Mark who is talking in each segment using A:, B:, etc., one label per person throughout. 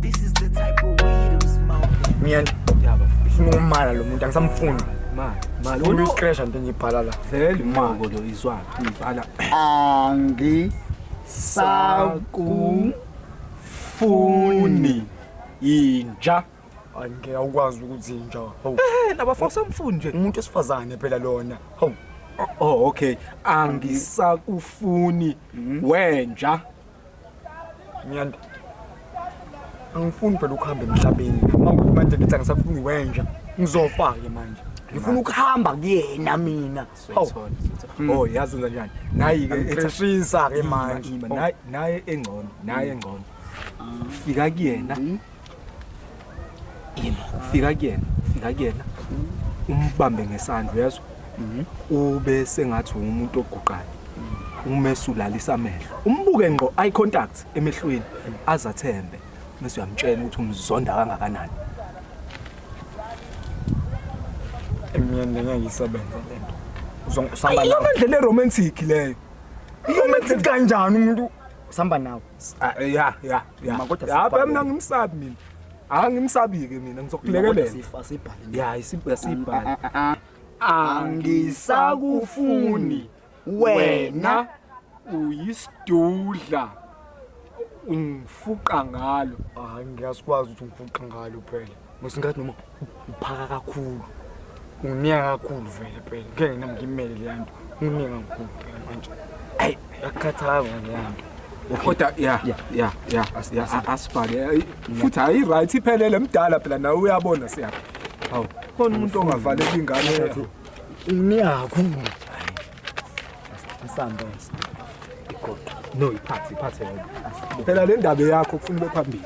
A: This is the type of weed I'm smoking. Mina Yabo.
B: ngifuna
C: ukumala lo
B: muntu angisamfuni. Ma, ma lo Ufuna
C: nto uqesha into
B: engibhala la. vele moko lo
C: izwa ngibhala. Angisakufuni inja. Hayi ngeke
B: awukwazi ukuzinja. Hawu. Eh laba fosa mfuni
C: nje. Umuntu osifazane phela
B: lona. Hawu. Oh okay.
C: Angisakufuni wenja.
B: Nyanda. Angifuni phela ukuhamba emhlabeni. Mawukuthi manje ngithi angisafuni wenja. Ngizofa ke manje. Ngifuna ukuhamba kuyena mina. Hawu. Oh yazi
C: wenza njani? Nayi ke Ngixishisa ke manje.
B: Ima, ima, naye- naye
C: engcono naye engcono fika kuyena yimo fika kuyena fika kuyena umbambe ngesandla uyezwa ube sengathi umuntu oguqayo umesulalisa amehlo umbuke ngqo eye contact emehlweni azathembe mase uyamtshela ukuthi umzonda kangakanani
B: emnyeni lena ngisebenza lento uzongisamba nawe lendlela
C: eromantic
B: leyo
C: romantic
B: kanjani umuntu usamba nawe Ah, eh, ya ya
C: ya Mama, kodwa
B: ya sibhale. mina ngimsabi
C: mina angimsabi-ke mina ngizokulekelela Sifa sibhale. ya
B: isibha sibhala
C: angisakufuni
B: wena uyisidudla
C: ungifuqa ngalo hayi ngiyazikwazi
B: ukuthi ngifuqa ngalo phela musingathi noma uphaka kakhulu ungineka kakhulu vele phela ngeke nina ngimele leya nto ungineka kakhulu phela manje ayi akukhathanga leya nto kodwa
C: ya ya ya asibhake futhi hayi right iphelele mdala phela nawe uyabona siyaphi hawu khona umuntu ongavaleki ingane yakho niyakho
B: msamba igoqa
C: no iphathi iphathi phela le ndaba yakho kufuna ube phambili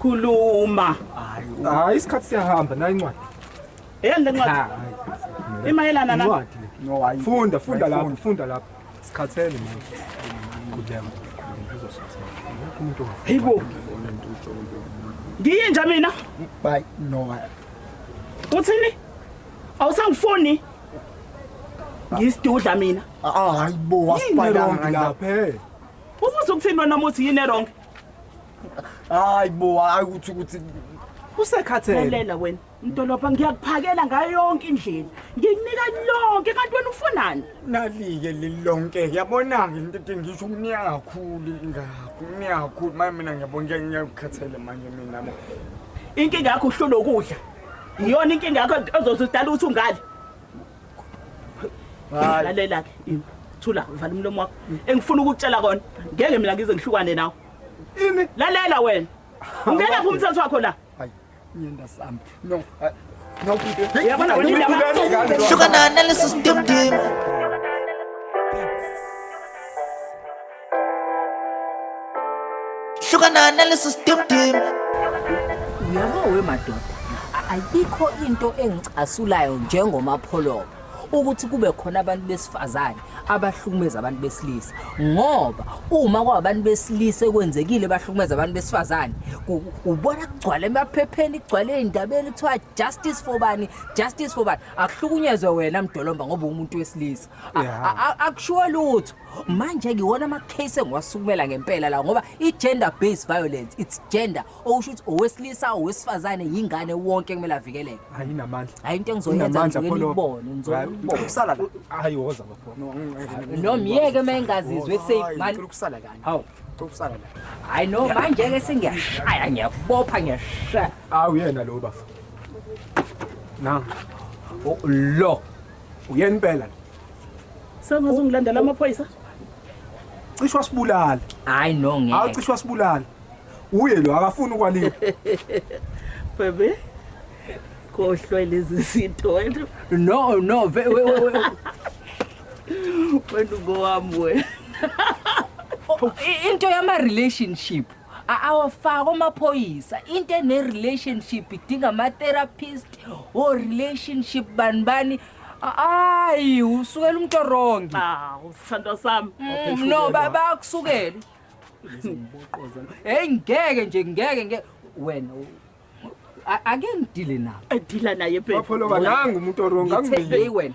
D: Khuluma.
C: Hayi isikhathi siyahamba nayi incwadi. Yeni le
D: ncwadi? Imayelana na? Incwadi. No hayi.
C: Funda
B: funda lapho
C: funda lapho. Sikhathele manje. Kudlema.
D: Hayibo. Ngiyinja mina. Bye. No
B: hayi.
D: Uthini? Awusangifuni? Ngisidudla mina. Ah hayibo
B: wasipayanga lapha.
C: Ubuza ukuthini
D: wena muthi yini erong? hayi bo
B: hayi ukuthi ukuthi usekhathele
C: lalela wena
D: mdolobha ngiyakuphakela ngayo yonke indlela ngikunika lonke kanti wena ufunani nalike
B: lilonke yabona-ke into ete ngisho ukunika kakhulu ingakho ukunika kakhulu manje mina ngiyabona ngiyakukhathele manje mina bo inkinga
D: yakho uhlula ukudla iyona inkinga yakho ezoze udala ukuthi ungali Hayi. lalela ke imi thula vala umlomo wakho engifuna ukukutshela kona ngeke mina ngize ngihlukane nawe Imi.
C: lalela wena
D: ungena phi umthetho wakho la Hayi. Ngiyenda
B: sami. No. Hayi. No. Uyabona ukuthi
D: laba- Sugar na analysis
A: dim dim. hlukana nalesi stimdim
E: uyabo wemadoda ayikho into engicasulayo njengomapholoba ukuthi kube khona abantu besifazane abahlukumeza abantu besilisa ngoba uma kwabantu besilisa ekwenzekile bahlukumeza abantu besifazane ku- ubona kugcwala emaphepheni kugcwala ey'ndabeni kuthiwa justice for bani justice for bani akuhlukunyezwe wena mdolomba ngoba ungumuntu wesilisa A- Yeah. a- a- akushiwo lutho manje-ke iwona ama-case engiwasukumela ngempela la ngoba i-gender based violence it's gender okusho ukuthi owesilisa owesifazane yingane wonke kumele avikeleke ayinamandla hayi
C: into engizoyenzaibone
E: hayi woza
C: no myeke
E: uma engazizwe eseyikusala kani hawu ukusala
B: la hayi no manje-ke
E: sengiyashaya ngiyakubopha ngiyashaya awu yena lo bafa
C: na oh, lo Uyeni impela? Sengaze
D: ungilandela amaphoyisa?
C: Cishe wasibulala. Hayi no ngeke. Hawu
E: cishe wasibulala.
C: Uye lo akafuni ukwaliwa.
D: Baby. Kohlwe lezi zinto wena. No no
E: we we we. Wena
D: ngowami
E: wena.
D: Into yama
E: relationship. A- awafaki omaphoyisa into ene-relationship idinga ama-therapist o relationship bani bani A- ayi usukela umuntu orongi awu sithandwa
D: sami Mm, no ba-
E: bayakusukela heyi ngeke nje ngeke ngeke wena u- a- ake ngidile nabo edila naye bapholoba
D: nangu umuntu
C: oronga Ngithe- heyi wena